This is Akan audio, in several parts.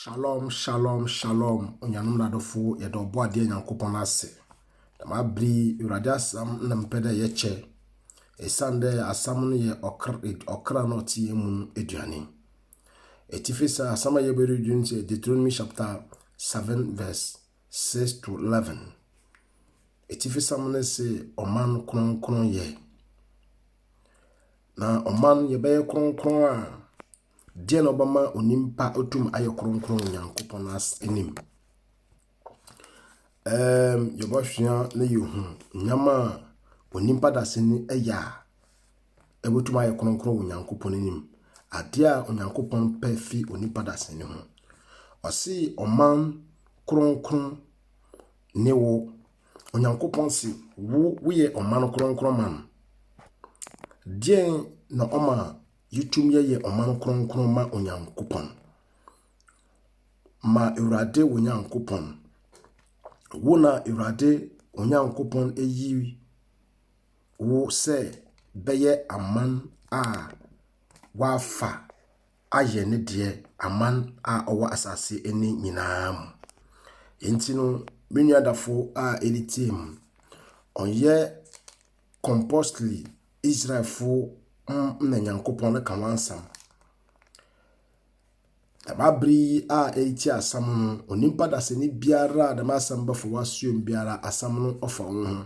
Shalom shalom shalom onuanom na adɔfo yɛda ɔbɔ adeɛ nyankopɔn ase dɛm abere yi awurade asɛm na mepɛ dɛ yɛkyɛ ɛsiane dɛ asɛm no yɛ ɔkra ɔkra na ɔte yɛn mu no aduane ɛtifi sɛ asɛm a yɛbɛredi no sɛ deuteronomy chapter 7 verse 6 to 11 ɛtifi sɛm no se ɔman kronkron yɛ na ɔman yɛbɛyɛ kronkron a Deɛn na ɔbɛma onipa otum ayɛ kronkron wɔ Nyankopɔn anim? Ɛɛm, yɛbɛsua na yɛhu nneɛma a onipa dasani yɛ a ɛbɛtum ayɛ kronkron wɔ Nyankopɔn anim. Adeɛ a Onyankopɔn pɛ fi onipa dasani ho. Ɔse ɔman kronkron ne wo. Onyankopɔn se wo woyɛ ɔman kronkron man. Deɛn na ɔma Yɛtum yɛyɛ ɔman kronkron ma Onyankopɔn. Ma Awurade wo Nyankopɔn. Wo na Awurade wo Nyankopɔn ayi wo sɛ bɛyɛ aman a wafa ayɛ ne deɛ aman a ɔwɔ asase ani nyinaa mu. Enti no, me nuadafo a ɛretie mu, ɔnyɛ compostly Israelfo ho na Nyankopɔn reka ho asɛm. Dɛm aber yi a eritsie asɛm no, onyimpa dasani biara a dɛm asɛm bɛfa w'asoɛm biara, asɛm no ɔfa wo ho.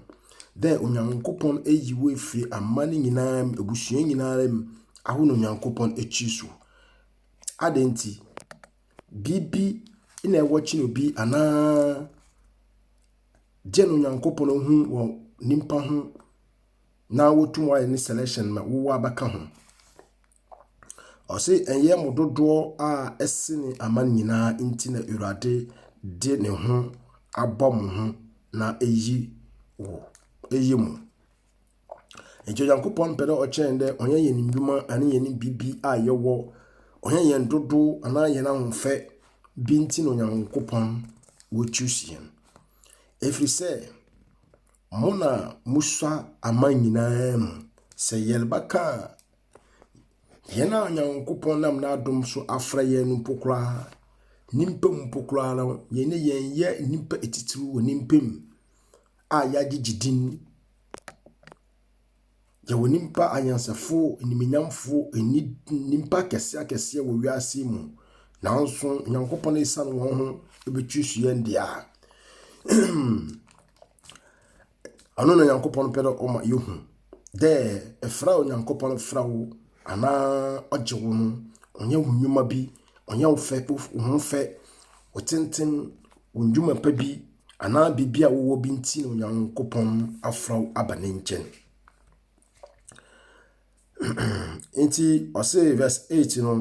Dɛ Onyankopɔn eyi wo efi aman nyinara mu, ebusua nyinara mu, awo no Onyankopɔn ekyir so. Adɛn ntsi? biribi na ɛwɔ kyene obi anaa gye no Nyankopɔn hu wɔ nipa ho na wotum ayɛ ne selection ma wowɔ abɛka ho. Ɔse ɛnyɛ mo dodoɔ a ɛsene aman nyinaa nti na Awurade de ne ho abɔ mo ho na eyi wo eyi mo. Nkyɛ Nyankopɔn mpɛ dɛ ɔkyɛn dɛ ɔnyɛ hɛn ndwuma anaa hɛn biribi a yɛwɔ, ɔnnyɛ hɛn dodow anaa hɛn ahofɛ bi ntsi na Nyankopɔn wo choose hɛn. Efir sɛ, mo na mosua aman nyina mu. Sɛ yɛrebɛka a, hɛn a Nyankopɔn nam n'adom so afora hɛn no mpo koraa, nyimpa mu mpo koraa no, yɛnye hɛn yɛ nyimpa etsitsir wɔ nyimpa mu. a yɛagyegye din, yɛwɔ nnipa anyansafo, animuonyamfo, nni nnipa akɛse akɛseɛ wɔ wiase mu. Nanso Onyankopɔn asiane wɔn ho bɛtiri so yɛn deɛ a, ɔno na Onyankopɔn pɛ dɛ ɔma yɛhu dɛ ɛfra Onyankopɔn fra wo anaa ɔgye wo no, ɔnyɛ wo nnwuma bi ɔnyɛ wo fɛ, wo ho fɛ, wo tenten, wo nnwuma pa bi, anaa biribi a wowɔ bi nti na Onyankopɔn afra wo aba ne nkyɛn. Nti ɔse verse 8 no,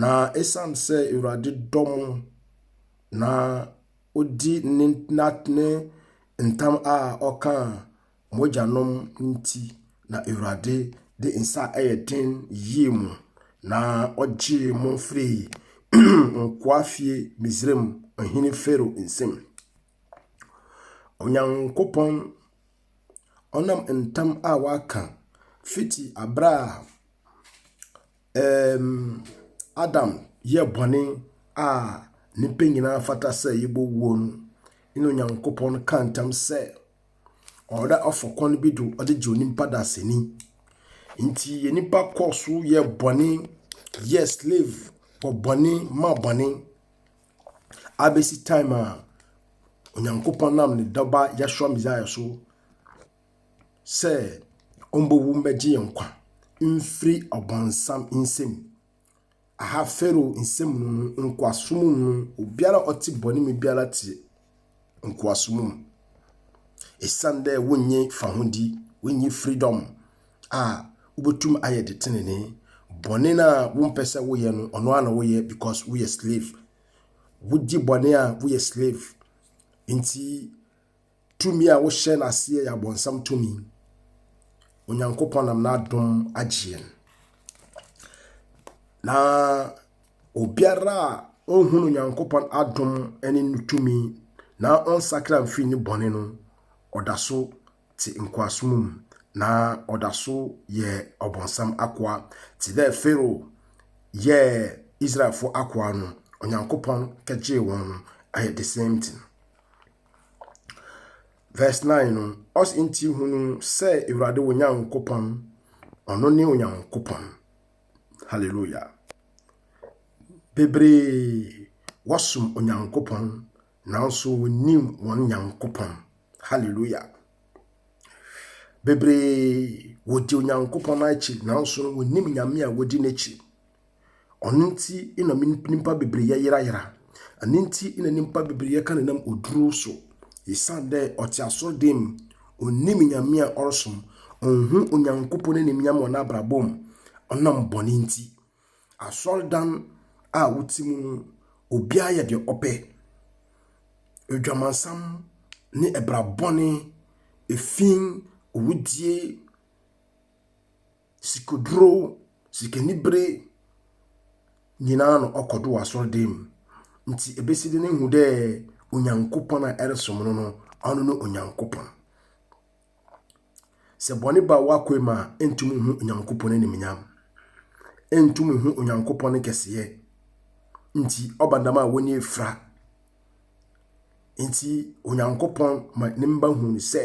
na ɛsiane sɛ Awurade dɔ mo na odi ne ne ntam a ɔka mo agyanom nti na Awurade de nsa a ɛyɛ den yii mo, na ɔgyee mo firii nkoa fie Misraim ɔhene Farao nsam. Onyankopɔn ɔnam ntam a waka fiti abere a ɛɛm, Adam yɛ bɔne a nnipa nyinaa fata sɛ yɛbɔ wuo no, ne Onyankopɔn ka ntam sɛ, Ɔda ɔfɔr kwan bi do ɔdze gye onyimpa do asɛnyi. Ntsi nyimpa kɔr so yɛɛ bɔne, yɛɛ slave wɔ bɔne ma bɔne abesi time a Onyankopɔn nam ne Dɔba Yeshua Messiah so sɛ ombowu mbɛgye hɛn nkwa mfir ɔbɔnsam nsamu. Aha Farao nsɛm mu no, nkoasom mu no, obiara a ɔte bɔne mu biara te nkoasom mu. Ɛsiane dɛ wonnye fahodi, wonnye freedom a wobɛtum ayɛ de tenenee. Bɔne no a wompɛ sɛ woyɛ no, ɔno ara na woyɛ because woyɛ slave. Wogye bɔne a woyɛ slave. Nti Tumi a wohyɛ no aseɛ yɛ abɔnsam tumi. Onyankopɔn nam n'adom agye yɛn. Na obiara a ɔnhunu Onyankopɔn adom ne ne tumi na ɔnsakra mfiri ne bɔne no, ɔda so te nkoasom mu na ɔda so yɛ ɔbɔnsam akoa te dɛ Farao yɛɛ Israelfo akoa no. Onyankopɔn kɛgyee wɔn no ayɛ the same thing. Verse 9 no, ɔs nti hunu sɛ Awurade wo Nyankopɔn, ɔno ne Onyankopɔn. Hallelujah. Bebree wɔsom Onyankopɔn nanso wɔnnim wɔn Nyankopɔn. Hallelujah. Bebree wɔdi Onyankopɔn akyi nanso wɔnnim Nyame a wɔdi n'akyi. Ɔno nti na nyimpa beberee yɛyerayera. Ɛno nti na nyimpa beberee yɛka no nam oduro so. Osiandɛ ɔtse asɔr dan mu, onnyim Nyame a ɔrosom, onnhu Onyankopɔn n'enyimnyam wɔ n'abrabɔ mu ɔnam bɔn ntsi. Asɔrdan a wotse mu no, obiara yɛ dza ɔpɛ. Edwamansam nye bra bɔn, fi, owudzie, sikoduro, sikanibere nyinaa na ɔkɔ do wɔ asɔrdan mu. Nti ebesi do no ehu dɛ Onyankopɔn a ɛresom no no, ɔno no Onyankopɔn. Sɛ bɔne ba w'akoe mu a, ntum nhu Onyankopɔn animuonyam. Ntum nhu Onyankopɔn ne kɛseyɛ. Nti ɔba dɛm a w'ani efura. Nti Onyankopɔn ma ne mba hu sɛ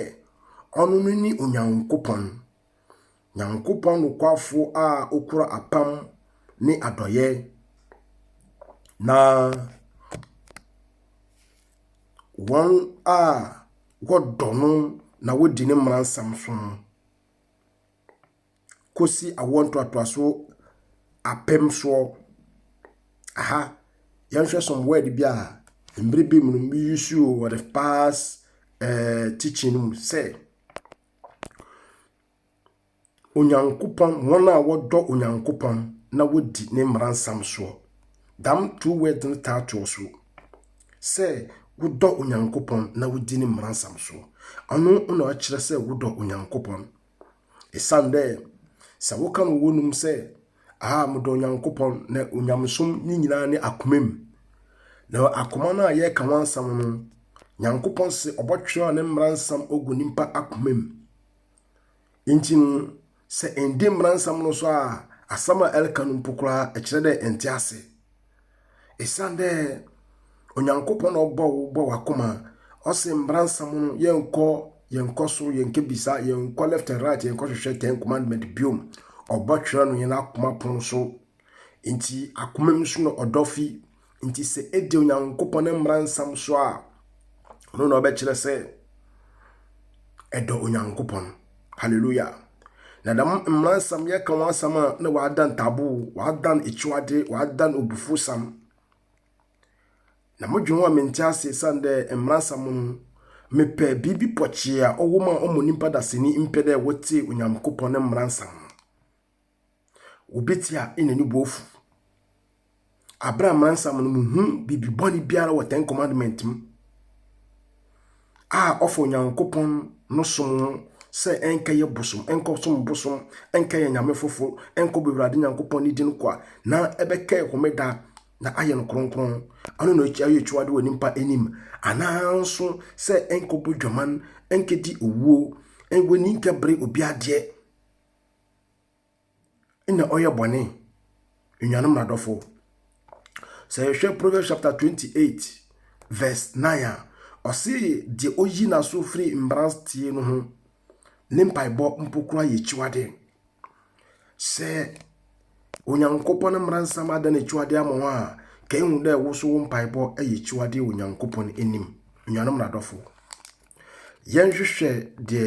ɔno no ne Onyankopɔn. Nyankopɔn nokwafo a okura apam ne adɔyɛ, na wɔn a wɔdɔ no na wodi ne mmaransɛm so no kosi awoɔ ntoatoaso apem soɔ. Aha, yɛnhwɛ some word bi a mmerɛ bi mu no, me use wɔ the past ɛɛɛ teaching no mu sɛ. Onyankopɔn, hɔn a wɔdɔ Onyankopɔn na wodzi ne mbaransɛm soɔ. Dɛm two words no taa to ɔsor. Sɛ wodɔ Onyankopɔn na wodzi ne mbaransɛm soɔ. Ɔno na ɔkyerɛ sɛ wodɔ Onyankopɔn. Esiane dɛ sɛ woka no wɔ w'anomu sɛ a wɔdɔ Onyankopɔn na onyamesom ne nyinaa ne akoma mu. Na akoma no a yɛreka ho asɛm no, Nyankopɔn se ɔbɔtwerɛ ne mmara nsɛm ogu nipa akoma mu. Nti no, sɛ ɛndi mmara nsɛm no so a, asɛm a ɛreka no mpo koraa ɛkyerɛ dɛ ɛnte ase. Esiane dɛ Onyankopɔn na ɔbɔɔ wo bɔɔ w'akoma, ɔse mbransɛm no yɛnkɔ yɛnkɔ so yɛnkɛbisa yɛnkɔ left and right yɛnkɔhwehwɛ ten commandment biom ɔbɔtwerɛ no yɛn akoma pon so nti akoma mu so na ɔdɔ fi nti sɛ ɛdi Onyankopɔn ne mbransɛm so a ɔno na ɔbɛkyerɛ sɛ ɛdɔ Onyankopɔn Hallelujah. Na dɛm mbra nsɛm yɛkã ho asɛm a na wɔada ntaboo, wɔada no ekyiwadze, wɔada no obufusam. Na modwen ho a menntse ase esian dɛ mbra nsɛm no mepɛ biribi pɔkyee a ɔwɔ mu a ɔma onyimpa daseni mpɛ dɛ wɔtsie Onyankopɔn ne mbra nsɛm no. Obi te a na ne bo afu. Abere a mmaransam no mu hu biribi bɔne biara wɔ Ten Commandment mu a ɔfa Onyankopɔn no som ho sɛ ɛnkɛyɛ bosom, ɛnkɔsom bosom, ɛnkɛyɛ nyame foforo, ɛnkɔ Awurade Nyankopɔn ne din kwa na ɛbɛkɛ homeda na ayɛ no kronkron. Ano na ɛyɛ akyiwade wɔ nipa anim anaa nso sɛ ɛnkɔbɔ dwaman, ɛnkɛdi owuo, ɛwɔ ni nkɛbere obi adeɛ. na ɔyɛ bɔne nnuanom nadɔfo sɛ yɛhwɛ proverbs chapter 28 verse 9 a ɔse deɛ ɔyi n'aso firi mmranteɛ no ho ne mpaebɔ mpo kora yɛ akyiwadeɛ sɛ onyankopɔn no mmaransɛm ada no akyiwadeɛ ama hɔ a ka ehu dɛ woso wo mpaebɔ yɛ akyiwadeɛ onyankopɔn anim nnuanom nadɔfo Yɛnhwehwɛ deɛ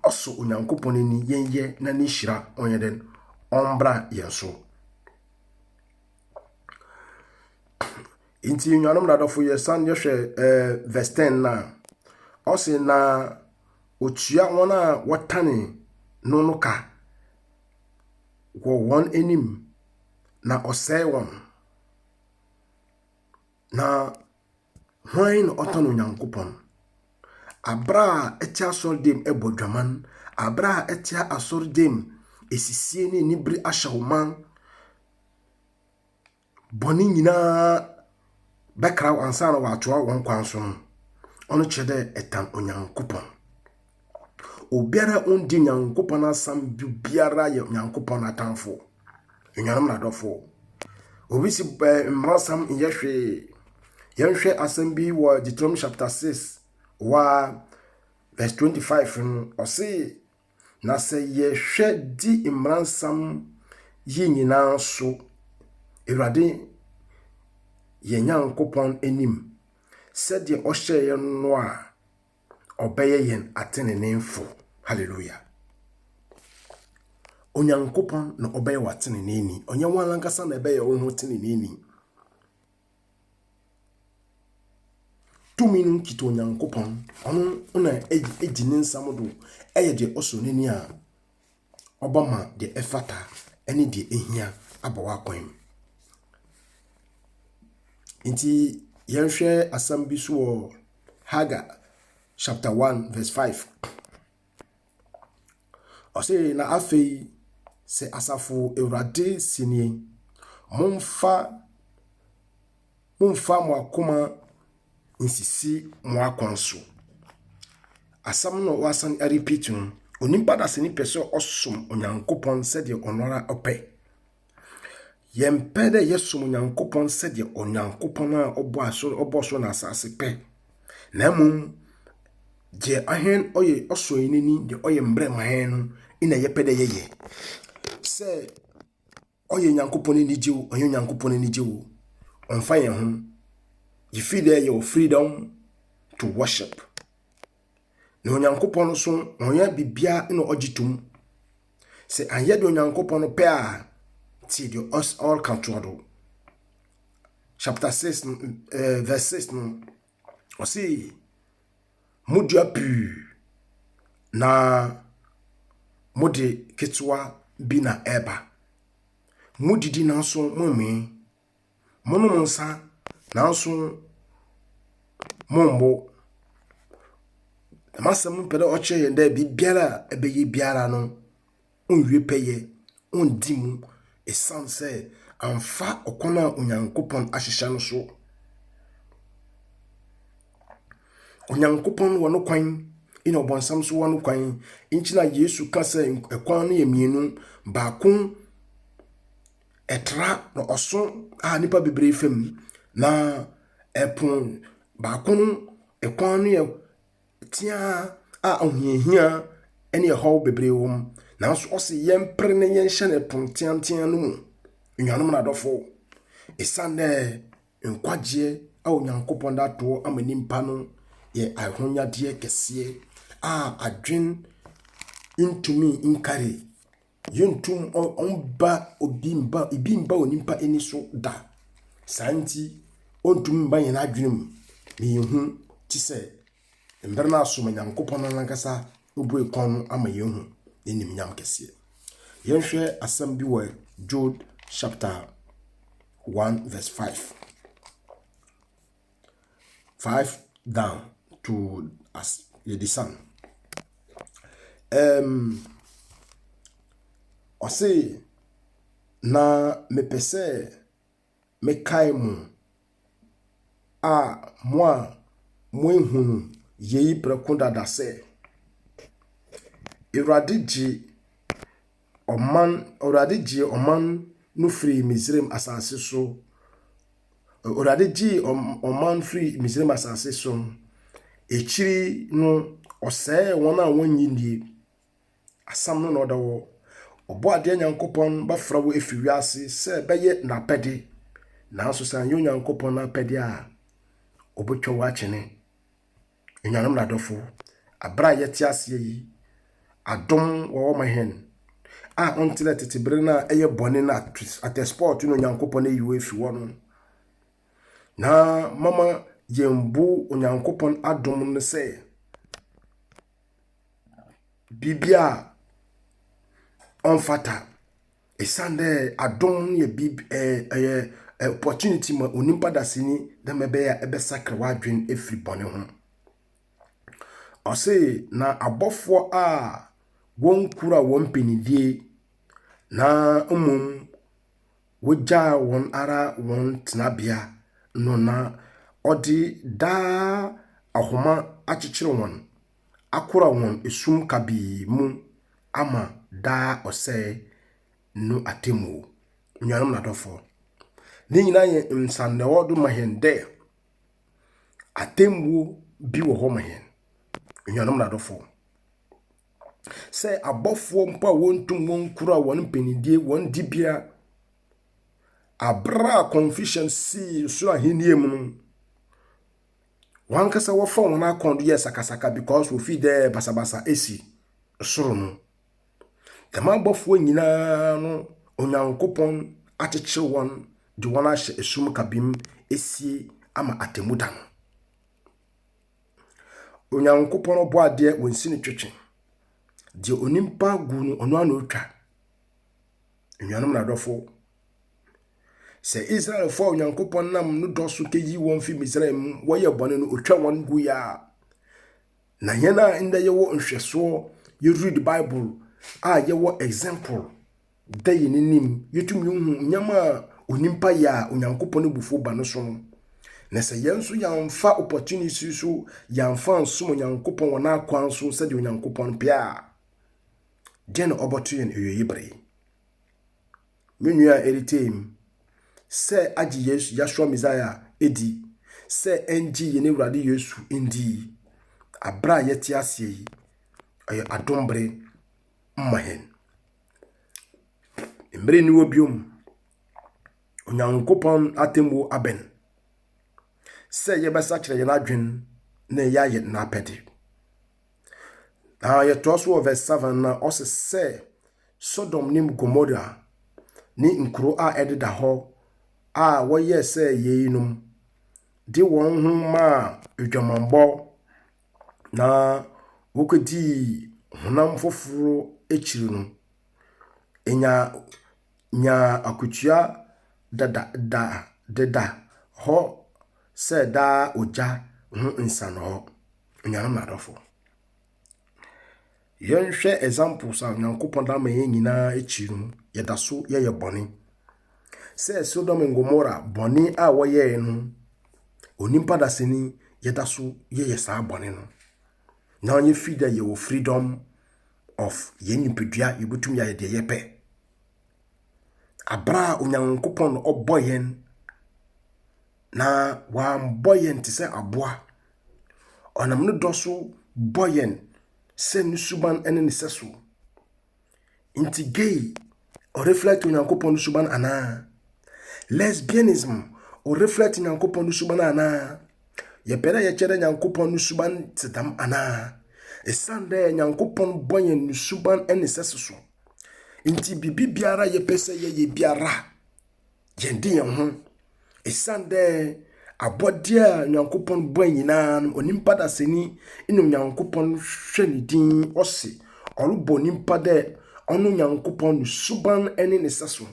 ɔsɔ Onyankopɔn ani yɛnyɛ na ne nhyira ɔnyɛ dɛn ɔmbra yɛn so. Nti nnuanom na adɔfo yɛsan yɛhwɛ eh, verse 10 na ɔse na otua wɔn a wɔtane no no ka wɔ wɔn anim na ɔsɛe wɔn na Hwan na ɔtan Onyankopɔn? Abere a ɛte asɔre dɛm ɛbɔ dwaman, abere a ɛte asɔre dɛm esisie ne anibere ahyɛ wo man. Bɔne nyinaa bɛkra wo ansa na wɔatoa wɔn kwan so no, ɔno kyerɛ dɛ ɛtan Onyankopɔn. Obiara ondi Nyankopɔn asɛm bi biara yɛ Nyankopɔn atamfo. Enuanom na adɔfo. Obi si eh, mmarasɛm nyɛ hwee. Yɛnhwɛ asɛm bi wɔ Deuteronomy chapter 6 wa verse 25 no. Ɔse, na sɛ yɛhwɛ di mmaransɛm yi nyinaa so Awurade yɛn Nyankopɔn anim sɛdeɛ ɔhyɛeɛ no a, ɔbɛyɛ yɛn ateneneefo. Hallelujah. Onyankopɔn na ɔbɛyɛ w'ateneneeni. Ɔnyɛ wɔn ankasa na ɛbɛyɛ wɔn ho teneneeni. Tumi no nkita Onyankopɔn. Ɔno na egyi ne nsam do ɛyɛ deɛ ɔsɔ n'ani a ɔbɛma deɛ ɛfata ne deɛ ɛhia abɔ w'akwan mu. Nti yɛnhwɛ asɛm bi so wɔ Hagar chapter 1 verse 5. Ɔse na afei sɛ asafo awurade si nie, momfa momfa mo akoma nsisi mo akwan so. Asɛm no a wɔasan arepeat no, onipa dasani pɛ sɛ ɔsom Onyankopɔn sɛdeɛ ɔno ara ɔpɛ. Yɛmpɛ dɛ yɛsom Onyankopɔn sɛdeɛ Onyankopɔn a ɔbɔ aso ɔbɔ so na asase pɛ, na mmom deɛ ahɛn ɔyɛ ɔsɔ yɛn ani deɛ ɔyɛ mbrɛ ma hɛn no na yɛpɛ dɛ yɛyɛ. Sɛ Ɔyɛ Nyankopɔn enigye o, ɔnyɛ Nyankopɔn enigye o, ɔmfa yɛn ho. Yɛfiri dɛ yɛwɔ freedom to worship. Na Onyankopɔn no so, ɔnyɛ biribiara na ɔgye tom. Sɛ anyɛ deɛ Onyankopɔn no pɛ a, tie deɛ ɔs ɔreka toɔ do. Chapter 6 no, eh, verse 6 no, Ɔse, modua pii na mode ketewa bi na ɛba. Modidi nanso mommee. Monom nsa nanso mombo. Dɛm asɛm no pɛ dɛ ɔkyerɛ hɛn dɛ biribiara a ebɛyɛ biara no, onnwie pɛyɛ. ɔnndi mu esiane sɛ amfa ɔkwan a Onyankopɔn ahyehyɛ no so. Onyankopɔn wɔ no kwan, ɛna ɔbɔnsam nso wɔ no kwan. Nti na Yesu ka sɛ ɛkwan no yɛ mmienu, baako ɛtra na ɔso a nipa bebree fam na ɛpon baako no ɛkwan no yɛ teaa a ahohiahia ne ɛhaw bebree wɔ mu. Nanso ɔse yɛmpere na yɛnhyɛ no pon teatea no mu. Anuanom na adɔfo, ɛsiane dɛ nkwagyeɛ a Onyankopɔn da toɔ ama nipa no yɛ ahonyadeɛ kɛseɛ a adwen ntumi nkari Yenntum mma obi mma ebi mma onipa ani so da. Saa nti, ontumi mma yɛn adwene mu na yɛnhu te sɛ mmerɛ no ara so ma Nyankopɔn no ankasa bue kwan no ama yɛahu n'animuonyam kɛseɛ. Yɛnhwɛ asɛm bi wɔ Jude chapter 1 verse 5. five down to as yɛde san. Um, ɔse na mepɛ sɛ mekae mo a mo a moahunu yei prɛko dada sɛ Awurade gye ɔman, Awurade gyee ɔman no firii Misraim asase so. Awurade gyee ɔman firii Misraim asase so no, akyiri no, ɔsɛee wɔn a wɔnnye nnie. Asɛm no na ɔda hɔ. Ɔbɔ adeɛ Nyankopɔn bɛfra wo afiri wiase sɛ bɛyɛ n'apɛde. Nanso sɛ anyɛ Onyankopɔn n'apɛde a, ɔbɛtwa wo akyene. Enuanom na adɔfo, aber a yɛtse ase yi, adom wɔ hɔ ma hɛn a ɔnntse dɛ tsetse ber no a eyɛ bɔn na atsɛspɔw tse na Onyankopɔn eyi wo efi hɔ no. Na mama yembu Onyankopɔn adom no sɛ biribi a ɔmmfata. Ɛsiane dɛ adom no yɛ biribi ɛ ɛyɛ ɛ opportunity ma onipa dasani dɛ mɛbɛyɛ a ɛbɛsakra w'adwene afiri bɔne ho. Ɔse na abɔfoɔ a wɔnkura wɔn mpanidie na mmom wɔgyaa wɔn ara wɔn tenabea no na ɔde daa ahoma akyekyere wɔn akora wɔn sum kabii mu ama daa ɔsɛe no atemmuo. Nuanom na adɔfoɔ, ne nyinaa yɛ nsannɛwɔ do ma hɛn dɛ atemmuo bi wɔ hɔ ma hɛn. Nuanom na adɔfoɔ, sɛ abɔfoɔ mpo a wɔntum wɔnkura wɔn mpanyindie, wɔn dibea, aber a Confucius sii soro ahenni mu no, Wankasa wɔfa wɔn akɔn do yɛ sakasaka because wofi dɛ basabasa esi soro no. Dɛm abɔfoɔ nyinaa no Onyankopɔn akyekye wɔn de wɔn ahyɛ esum kabim esie ama atemmu da no. Onyankopɔn ɔbɔadeɛ wɔnsi no twetwe. Deɛ onipa gu no ɔno ara na otwa. Anuanom na adɔfo, sɛ Israelfo a Onyankopɔn nam no dɔ so keyi wɔn fi Misraim mu, wɔyɛ bɔne no, otwa wɔn gu ya. Na yɛn a nnɛ yɛwɔ nhwɛsoɔ, yɛread Bible a yɛwɔ example da yɛn anim, yɛtumi hu nneɛma a onipa yɛ a Onyankopɔn abufuo ba no so no. Na sɛ yɛn nso yɛamfa opportunity so yɛamfa nsom Onyankopɔn wɔ n'akwan so sɛdeɛ Onyankopɔn pɛ a, Deɛ na ɔbɔto yɛn awieyi bere yi. Me nua a ɛretee mu sɛ agye Yesu Yahshua Messiah a ɛdi sɛ ɛngye yɛn Awurade Yesu ndi yi, abere a yɛte aseɛ yi, ɛyɛ adom bere mma yɛn. Mmere ni wɔ biom, Onyankopɔn atemmuo abɛn sɛ yɛbɛsakyerɛ yɛn adwene na yɛayɛ n'apɛde. Na yɛtoa so wɔ verse 7 na ɔse sɛ Sodom ne Gomora ne nkuro a ɛdeda hɔ a wɔyɛɛ sɛ yeinom de wɔn ho maa adwamammɔ na wɔkɔdii honam foforo akyiri no, ɛnya nyaa akotua dada da deda hɔ sɛ daa ogya ho nsa no hɔ. Anuanom na adɔfo, yɛnhwɛ examples a Onyankopɔn da ma yɛn nyinaa akyi no, yɛda so yɛyɛ bɔne. Sɛ Sodom and Gomorrah bɔne a wɔyɛe no, onipa dasani yɛda so yɛyɛ saa bɔne no. Now you feel that you freedom of yɛn nipadua yɛbɛtumi ayɛ deɛ yɛpɛ aberɛ a onyankopɔn na ɔbɔ yɛn na wambɔ yɛn te sɛ aboa Ɔnam ne dɔ so bɔ yɛn sɛ ne suban ne ne sɛso. Nti gay o reflect Onyankopɔn ne suban anaa? Lesbianism o reflect Nyankopɔn ne suban anaa? Yɛpɛ dɛ yɛkyɛ dɛ Nyankopɔn ne suban te dɛm anaa? Ɛsiane dɛ Nyankopɔn bɔ yɛn ne suban ne sɛso so. Nti biribi biara yɛpɛ sɛ yɛyɛ biara Yɛn de yɛn ho. Ɛsiane dɛ abɔdeɛ a Nyankopɔn bɔe nyinaa no, onipa dasani na Onyankopɔn hwɛ ne din, ɔse ɔrebɔ onipa dɛ ɔno Nyankopɔn ne suban ne ne sɛso.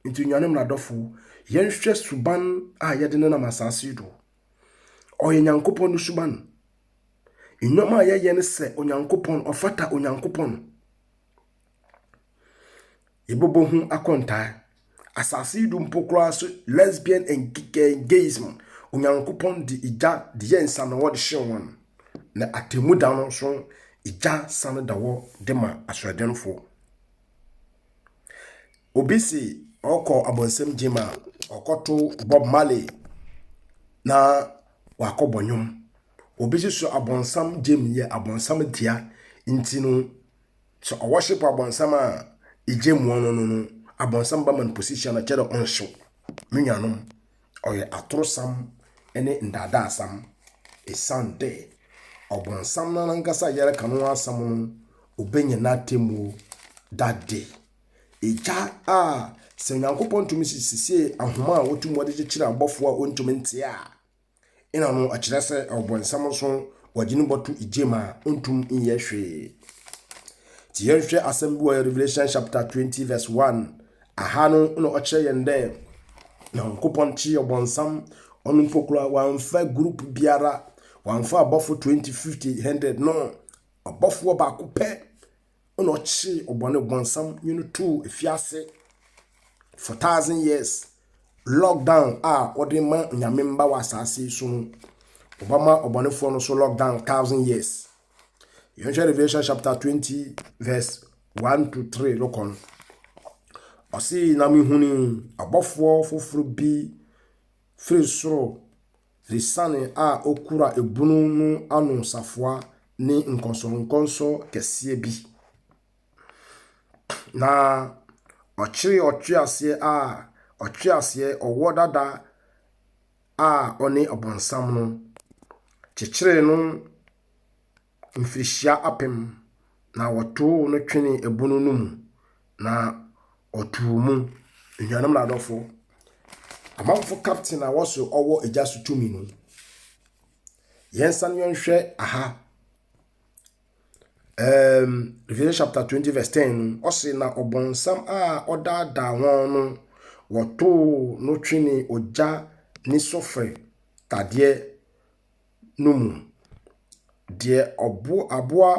Nti nuanom na adɔfo, yɛnhwɛ suban a yɛde nenam asase do. Ɔyɛ Nyankopɔn ne suban. Nneɛma a yɛyɛ no sɛ Onyankopɔn, ɔfata Onyankopɔn. Yɛbɛbɔ ho akontaa. Asase yi do mpo koraa so lesbian and gayism, Onyankopɔn de egya de yɛɛ nsa na ɔde hyew hɔn. Na atemmu da no nso, egya san da hɔ de ma asoɔdenfo. Obi se ɔkɔ abɔnsam gyem a, ɔkɔto Bob Marley na wakɔbɔ nnwom. Obi nso so abɔnsam gyem yɛ abɔnsam dea nti no. Sɛ ɔwɔhyepo abɔnsam a egye mmoano no no, abɔnsam ba ma no position a kyerɛ ɔnhyew. Me nuanom, ɔyɛ atorosam ne ndaadaasam. Esiandɛ ɔbɔnsam no nankasa a yɛreka no ho asɛm no, obenya n'atemmu da de. Egya a sɛ Nyankopɔn tumi sisisee ahoma a otum wɔdze kyekyer abɔfo a ontumi ntse a, Nna no kyerɛ sɛ Ɔbɔnsam so wɔdze no bɔto gya mu a onntum nnyɛ hwee. Ntsi yɛnhwɛ asɛm bi wɔ Revelation chapter twenty verse one. Aha no na ɔkyerɛ hɛn dɛ Nyankopɔn kyee Ɔbɔnsam, ɔno mpo koraa ɔammfa group biara, ɔammfa abɔfo twenty, fifty, hundred, no, ɔbɔfoɔ baako pɛ na ɔkyee ɔbɔne bɔnsam nye no too efiase for thousand years. Lockdown a wɔde ma nyame mba wɔ asaase yi so no, wɔbɛma ɔbɔnefoɔ no so lockdown thousand years. Yɛnhwɛ Revelation chapter twenty verse one to three no kɔ no. Ɔse na mehunii abɔfoɔ foforɔ bi firi soro Asiane a okura ebunu no ano safoa ne nkɔnsɔnkɔnsɔ kɛseɛ bi, na ɔkyeree ɔtweaseɛ a ɔtweaseɛ ɔwɔ dada a ɔne Ɔbonsam no kyekyeree no. mfirihyia apem, na wɔtow no twenee ɛbun no mu, na ɔtoo mu. Anuanom na adɔfo, amanfo captain a wɔso ɔwɔ agya so tumi no, yɛnsan yɛnhwɛ aha. Um, Revelation chapter 20 verse 10 no, ɔse na ɔbɔnsam a ɔdaadaa wɔn no, wɔtow no twenee ogya ne sofre tadeɛ no mu. Deɛ ɔbo aboa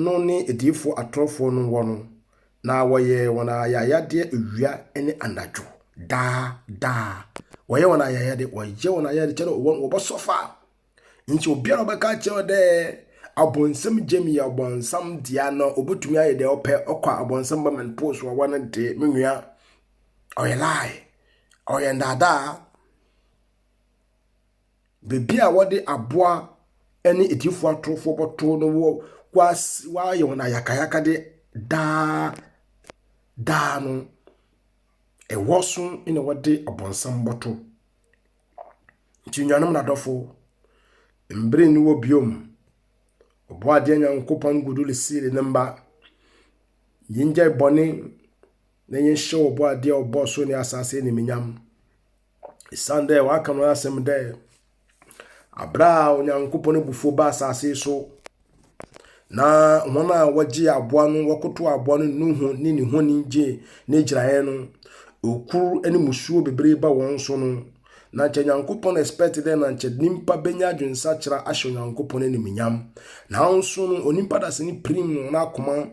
no ne adiyifoɔ atorofoɔ no wɔ no, na wɔyɛ wɔn ayayadeɛ awia ne anadwo, daa daa. Wɔyɛ wɔn ayayadeɛ, wɔyɛ wɔn ayayadeɛ kyɛ dɛ wɔn wɔbɛsɔfa. Nti obiara a ɔbɛka akyerɛ wo dɛ abɔnsam gyam yɛ ɔbɔnsam dea no, ɔbɛtumi ayɛ deɛ ɔpɛ, ɔkɔ a abɔnsam ba man post wɔ wɔn de, me nua, ɔyɛ lie, ɔyɛ ndaadaa. Baabi a wɔde aboa ne atiefo atorofo bɛto no wɔ wɔayɛ wɔn ayakayakade daa daa no, ɛhɔ so na wɔde Ɔbonsam bɛto. Nti nuanom na adɔfo, mbere nni hɔ bio, Ɔbɔadeɛ Nyankopɔn gudu resiri ne mma. Yengyae bɔne na yɛnhyɛ Ɔbɔadeɛ a ɔbɔɔ soro ne asaase no animuonyam. Esiane dɛ wɔaka no asɛm dɛ, aber a Onyankopɔn ebufuw baa asaase yi so, na hɔn a wɔgyee aboa no, wɔkotoo aboa no noho nye ne honi gyee n'egyinae no, okur ne musuo beberee baa hɔn so no, na nkyɛ Nyankopɔn expect dɛ na nkyɛ nyimpa benya adwensakyera ahyɛ Onyankopɔn enyimnyam. Naaso no, onyimpa dasani piriim hɔn akoma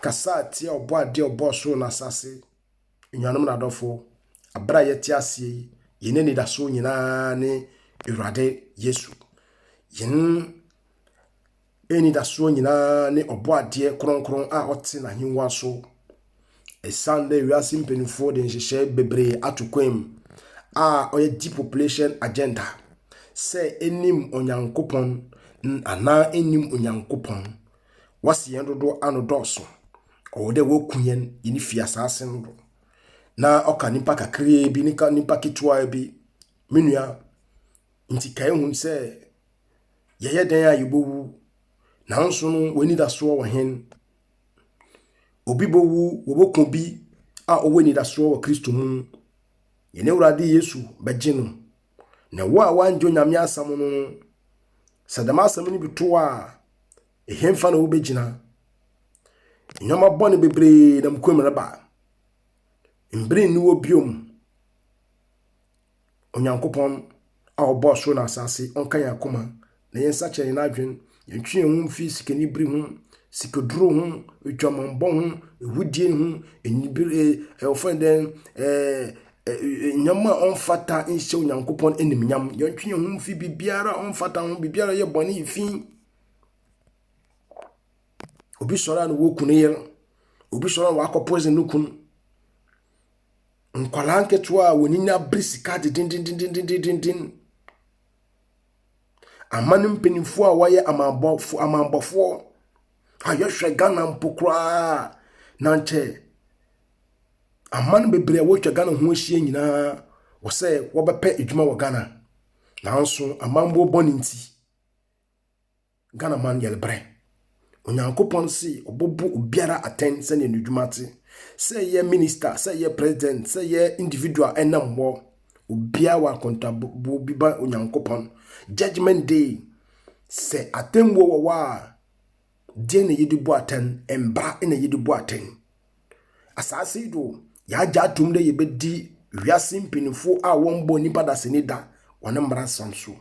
kasaa tsia Ɔbɔadze a ɔbɔɔ sor na asaase Anuanom na adɔfo, abere a yɛte aseɛ yi, yɛn anidasoɔ nyinaa ne Awurade Yesu. Yɛn anidasoɔ nyinaa ne ɔbɔadeɛ kronkron a ɔte n'ahengua so. Ɛsiane dɛ wiase mpanimfoɔ de nhyehyɛe bebree ato kwan mu a ɔyɛ depopulation agenda sɛ ɛnim Onyankopɔn anaa ɛnim Onyankopɔn. Wɔase yɛn dodoɔ ano dɔɔso. Ɔwɔ dɛ woku hɛn, hɛn fi asaase no do, na ɔka nyimpa kakraa bi, ne ka nyimpa ketewaa bi. Me nua, ntsi ka ehu sɛ, yɛyɛ dɛn a yebowu, naaso no w'enyidasoɔ wɔ hen? Obi bowu, woboku obi a ɔwɔ enyidasoɔ wɔ Kristo mu. Hɛn Ewuradze Yesu bɛgye no. Na wo a wɔanngye Onyame asɛm no no, sɛ dɛm asɛm no bi to wo a, Ɛhefa na wobɛgyina? Nneɛma bɔne bebree na mu kwam reba. Mbere nni hɔ biom. Onyankopɔn a ɔbɔɔ soro na asase, ɔnka yɛn akoma na yɛn nsa kyerɛ yɛn adwen. Yɛntwe yɛn ho mfi sikanibere ho, sikaduro ho, adwamammɔ ho, ehudie ho, enibere, ɛɛ ɔfɛn dɛn, ɛɛ nneɛma a ɔmfata nhyɛ Onyankopɔn animnyam. Yɛntwe yɛn ho mfi biribiara a ɔmfata ho, biribiara yɛ bɔne fi. obi sɔre a na wɔku ne yere obi sɔre a wakɔ poison no kun nkwadaa nketewa a wɔn ani abere sika dendendendendenden aman mpanimfoɔ a wɔyɛ amanbɔfoɔ amanbɔfoɔ a yɛhwɛ ghana mpo koraa na nkyɛ aman bebree a wɔatwa ghana ho ahyia nyinaa wɔsɛ wɔbɛpɛ adwuma wɔ ghana nanso amanboɔ bɔ ne nti. Ghana man yɛn brɛ. Onyankopɔn se ɔbɔbɔ obiara atɛn sɛdeɛ ne dwuma te. Sɛ ɛyɛ minister, sɛ ɛyɛ president, sɛ ɛyɛ individual ɛnam hɔ. Obiara wɔ akontabuo bi ba Onyankopɔn. Judgment day, sɛ atɛnbuo wɔ hɔ a, deɛ na yɛde bu atɛn, mbra na yɛde bu atɛn. Asaase yi do, yɛagya atom dɛ yɛbɛdi wiase mpanyinfoɔ a wɔmbɔ nipa dasani da wɔn mmara sam so.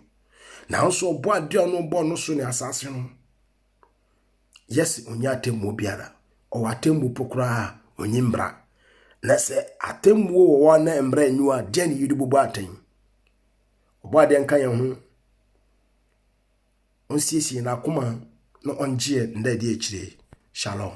nanso ɔbɔ adeɛ a ɔno bɔ no so ne asase no yɛsi onye atemmuo biara ɔwɔ atemmuo po koraa onye mbra na sɛ atemmuo wɔ hɔ na mbra nyi hɔ a deɛ ne yɛde bɔbɔ atɛn ɔbɔ adeɛ nka yɛn ho ɔnsiesie n'akoma na ɔngyeɛ ndɛ deɛ akyire shalom